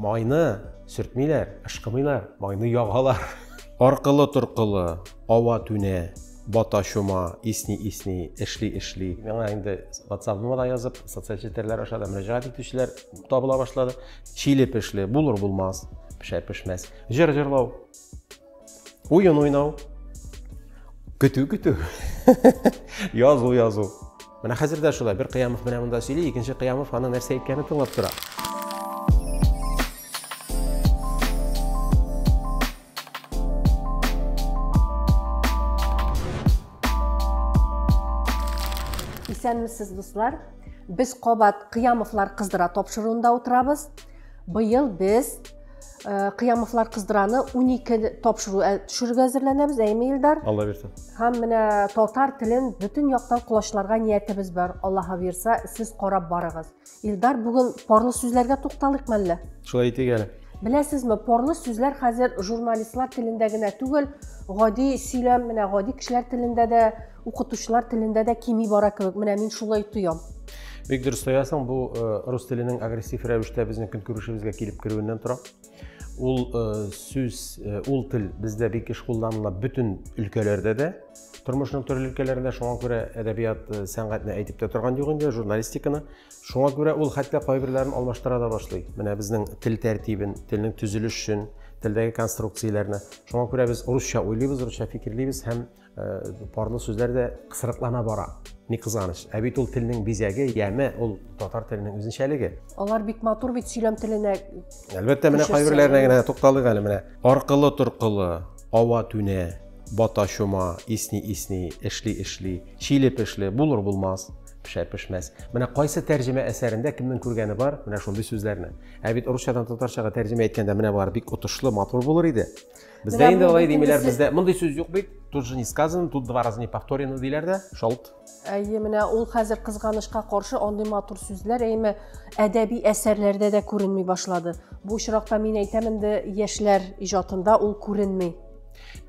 Майны сөртмиләр, ышкымыйлар, майны ягалар. Аркылы-торкылы, ава түнә, бата чума, исни-исни, эшли-эшли. Миңа инде WhatsApp-ыма да язып, социаль челтәрләр аша да мөрәҗәгать итүчеләр табыла башлады. Чиле-пешле, булыр-булмас, пешәр-пешмәс. Җыр җырлау. Уен уйнау. Көтү, көтү. Язу, язу. Менә хәзер дә шулай. Бер Кыямов менә монда сөйли, икенче Кыямов аны нәрсә әйткәнен тыңлап тора. Исәнмесез, дуслар. Без кабат Кыямовлар кыздыра тапшыруында утырабыз. Быел без Э, кыямовлар кыздыраны унике тапшыру э, төшерергә әзерләнәбез әйме илдар алла бирса һәм менә татар телен бөтен яктан колачларга ниятебез бар аллаһы бирса сез карап барыгыз илдар бүген парлы сүзләргә тукталыйк мәллә шулай итик әле беләсезме парлы сүзләр хәзер журналистлар телендә генә түгел гади сөйләм менә гади кешеләр телендә дә Укытучылар телендә дә кими бара кебек. Менә мин шулай тоям. Бик дөрес тоясың, бу рус теленең агрессив рәвештә безнең көнкүрешебезгә килеп керүеннән тора. Ул сүз, ул тел бездә бик еш кулланыла бөтен өлкәләрдә дә. Тормышның төрле өлкәләрендә шуңа күрә әдәбият, сәнгатьне әйтеп тә торган юк инде, журналистиканы. Шуңа күрә ул хәтта кайберләрен алмаштыра да башлый. Менә безнең тел тәртибен, телнең төзелешен, телдәге конструкцияләрне. Шуңа күрә без русча уйлыйбыз, русча фикерлибез һәм Парлы сүзләр дә кысрыклана бара. Ни кызганыч, ә бит ул телнең бизәге, яме, ул татар теленең үзенчәлеге. Алар бик матур бит сөйләм теленә. Әлбәттә, менә кайберләренә генә тукталыйк әле менә. Аркылы торкылы, ава түнә, бата чума, исни исни, эшли эшли, чилеп эшли, булыр булмас пешә пешмәс менә кайсы тәрҗемә әсәрендә кемнең күргәне бар менә шундый сүзләрне ә бит русчадан татарчага тәрҗемә иткәндә менә болар бик отышлы матур булыр иде Бездә инде алай димиләр, бездә мондый сүз юк бит. Тут же не сказано, тут два раза не повторено диләр дә, шалт. Әйе, менә ул хәзер кызганычка каршы андый матур сүзләр әйме әдәби әсәрләрдә дә күренми башлады. Бу очракта мин әйтәм инде яшьләр иҗатында ул күренми.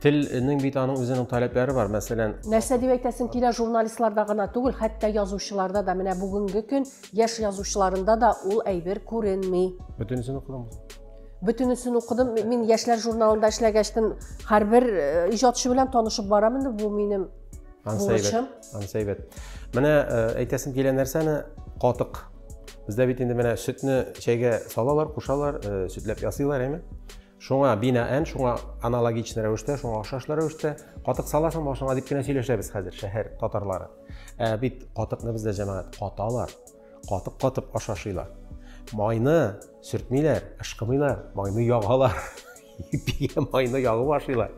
Телнең бит аның үзенең таләпләре бар, мәсәлән. Нәрсә дип әйтәсең килә журналистларда гына түгел, хәтта язучыларда да, менә бүгенге көн яшь язучыларында да ул әйбер күренми. Бөтенесен укыдыңмы? Бөтенесен укыдым. Мин яшьләр журналында эшләгәчтен һәрбер э, иҗатчы белән танышып барам инде. Бу минем бурычым. Ансәйбәт. Менә э, әйтәсем килә нәрсәне катык. Бездә бит инде менә сөтне чәйгә салалар, кушалар, э, сөтләп ясыйлар, әйме? Шуңа бинаән, шуңа аналогичный рәвештә, шуңа охшашлы рәвештә катык саласың башыңа дип кенә сөйләшәбез хәзер шәһәр татарлары. Ә бит катыкны бездә җәмәгать каталар. Катып-катып ашашыйлар. Майны сөртмиләр, ышкымыйлар, майны ягалар. Ипигә майны ягып ашыйлар.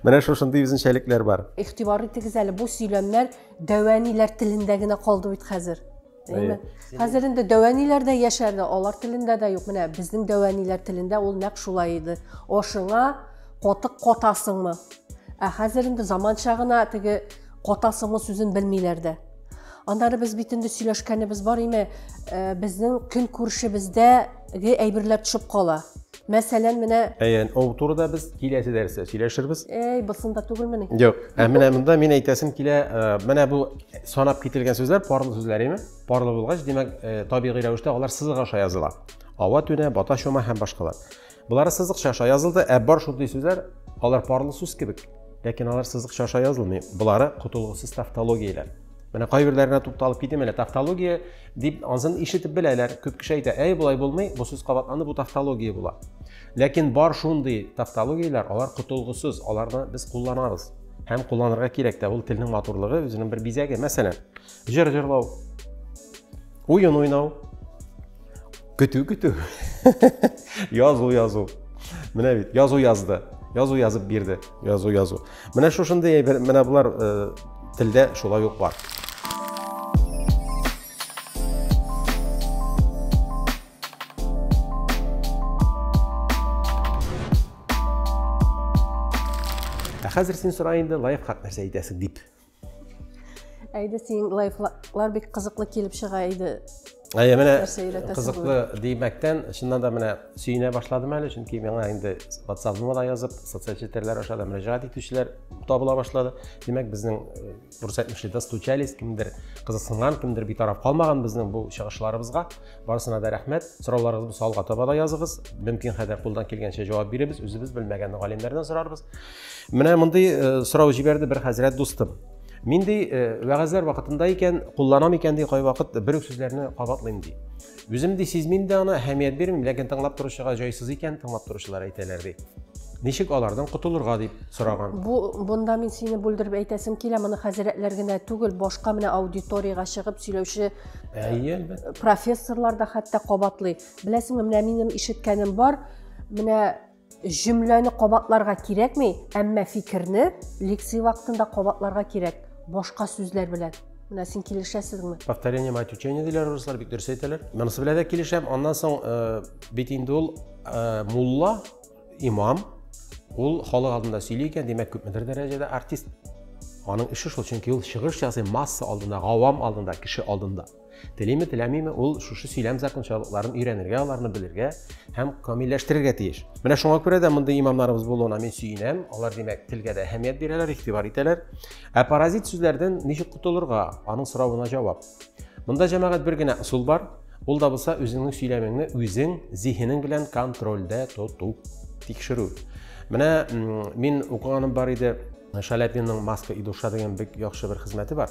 Менә шушындый үзенчәлекләр бар. Игътибар итегез әле, бу сөйләмнәр дәвәниләр телендә генә калды бит хәзер. Әйе. Хәзер инде дәвәниләр дә яшәрде, алар телендә дә юк. Менә безнең дәвәниләр телендә ул нәкъ шулай иде. Ашыңа катык катасыңмы? Ә хәзер инде заманча гына теге катасыңмы сүзен белмиләр дә. Аннары без бит инде сөйләшкәнебез бар име, э, безнең көн күршебездәге әйберләр төшеп кала. Мәсәлән, менә Әйән, ул турыда без киләсе дәрестә сөйләшербез. Әй, бысында түгелмени? Юк. Ә менә монда мин әйтәсем килә, э, менә бу санап кителгән сүзләр парлы сүзләр име? Парлы булгач, димәк, э, табигый рәвештә алар сызык аша языла. Ава түнә, бата чума һәм башкалар. Болары сызыкча аша язылды, ә бар шундый сүзләр, алар парлы сүз кебек, ләкин алар сызыкча аша язылмый. Болары котылгысыз тавтологияләр. Менә кайберләренә тукталып китим әле. Тавтология дип ансын ишетеп беләләр. Күп кеше әйтә, әй, болай булмый, бу сүз кабатланды, бу тавтология була. Ләкин бар шундый тавтологияләр, алар котылгысыз, аларны без кулланабыз. Һәм кулланырга кирәк тә, ул телнең матурлыгы, үзенең бер бизәге. Мәсәлән, Җыр җырлау. Уен уйнау. Көтү көтү. Язу язу. Менә бит, язу язды. Язу язып бирде. Язу язу. Менә шушындый әйбер, менә болар э, телдә шулай ук бар. Ә хәзер син сора инде лайфхак нәрсә әйтәсең дип. Әйдә синең лайфлар бик кызыклы килеп чыга иде. Әйе, менә кызыклы димәктән, чыннан да менә сөенә башладым әле, чөнки миңа инде WhatsApp-ны да язып, социаль челтәрләр аша да мөрәҗәгать итүчеләр табыла башлады. Димәк, безнең э, дөрес әйтмешли, достучались, кемдер кызыксынган, кемдер битараф калмаган безнең бу чыгышларыбызга. Барысына да рәхмәт. Сорауларыгызны салга таба да языгыз. Мөмкин кадәр кулдан килгәнчә җавап биребез, үзебез белмәгәнне галимнәрдән сорарбыз. Менә мондый сорау җибәрде бер хәзрәт дустым. Мин ди, вәгазьләр вакытында икән, кулланам икән ди, кайвакыт бер үк сүзләрне кабатлыйм ди. Үзем ди сизмим дә аны, әһәмият бирмим, ләкин тыңлап торучыга җайсыз икән, тыңлап торучылар әйтәләр ди. Ничек алардан котылырга дип сораган. Бу бунда мин сине бүлдереп әйтәсем килә, моны хәзрәтләр генә түгел, башка менә аудиториягә чыгып сөйләүче Әйе, әлбәттә. Профессорлар да хәтта кабатлый. Беләсеңме, менә минем ишеткәнем бар. Менә Җөмләне кабатларга кирәкми, әмма фикерне лекция вакытында кабатларга кирәк, башка сүзләр белән. Менә син килешәсезме? Повторение мать учения диләр руслар, бик дөрес әйтәләр. Монысы белән дә килешәм. Аннан соң э, бит инде ул э, мулла, имам, ул халык алдында сөйли икән, димәк, күпмедер дәрәҗәдә артист. Аның эше шул, чөнки ул чыгыш ясый масса алдында, гавам алдында, кеше алдында. Телиме, теләмиме, ул шушы сөйләм закончалыкларын өйрәнергә, аларны белергә һәм камилләштерергә тиеш. Менә шуңа күрә дә мондый имамнарыбыз булуына мин сөенәм. Алар, димәк, телгә дә әһәмият бирәләр, игътибар итәләр. Ә паразит сүзләрдән ничек котылырга? Аның соравына җавап. Монда җәмәгать бер генә ысул бар. Ул да булса үзеңнең сөйләмеңне үзең зиһенең белән контрольдә тоту, тикшерү. Менә мин укыганым бар иде, Шаляпинның маска и душа дигән бик яхшы бер хезмәте бар.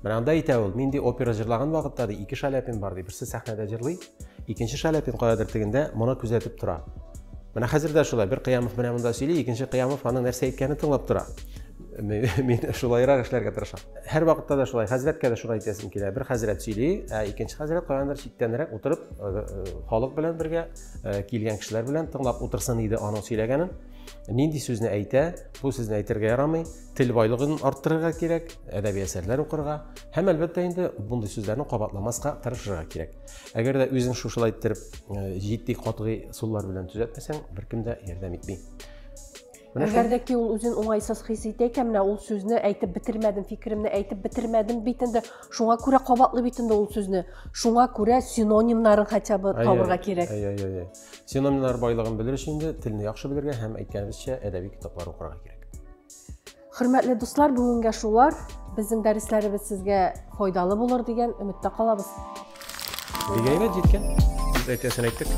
Менә анда әйтә ул, мин ди опера җырлаган вакытта ди ике шаляпин бар ди, берсе сәхнәдә җырлый, икенче шаляпин кадәдер тегендә моны күзәтеп тора. Менә хәзер дә шулай, бер Кыямов менә монда сөйли, икенче Кыямов аның нәрсә әйткәнен тыңлап тора. Мин шулайрак эшләргә тырышам. Һәр вакытта да шулай, хәзрәткә дә шулай әйтәсем килә. Бер хәзрәт сөйли, ә икенче хәзрәт каяндыр читтәнрәк утырып, э, э, халык белән бергә, э, килгән кешеләр белән тыңлап утырсын иде аның сөйләгәнен. Нинди сүзне әйтә, бу сүзне әйтергә ярамый. тел байлыгын арттырырга кирәк, әдәби әсәрләр укырга һәм әлбәттә инде мондый сүзләрне кабатламаска тырышырга кирәк. Әгәр дә үзең шушылай иттереп э, җитди катгый суллар белән төзәтмәсәң, беркем дә ярдәм итми. Әгәр дә ки ул үзен уңайсыз хис итә икән, менә ул сүзне әйтеп бетермәдем, фикеремне әйтеп бетермәдем бит инде. Шуңа күрә кабатлый бит инде ул сүзне. Шуңа күрә синонимнарын хотя бы табырга кирәк. Әйе, әйе, әйе. Синонимнар байлыгын белер өчен инде телне яхшы белергә һәм әйткәнебезчә әдәби китаплар укырга кирәк. Хөрмәтле дуслар, бүгенгә шулар. Безнең дәресләребез сезгә файдалы булыр дигән өметтә калабыз. Бик әйбәт җиткән. Без әйтәсен әйттек.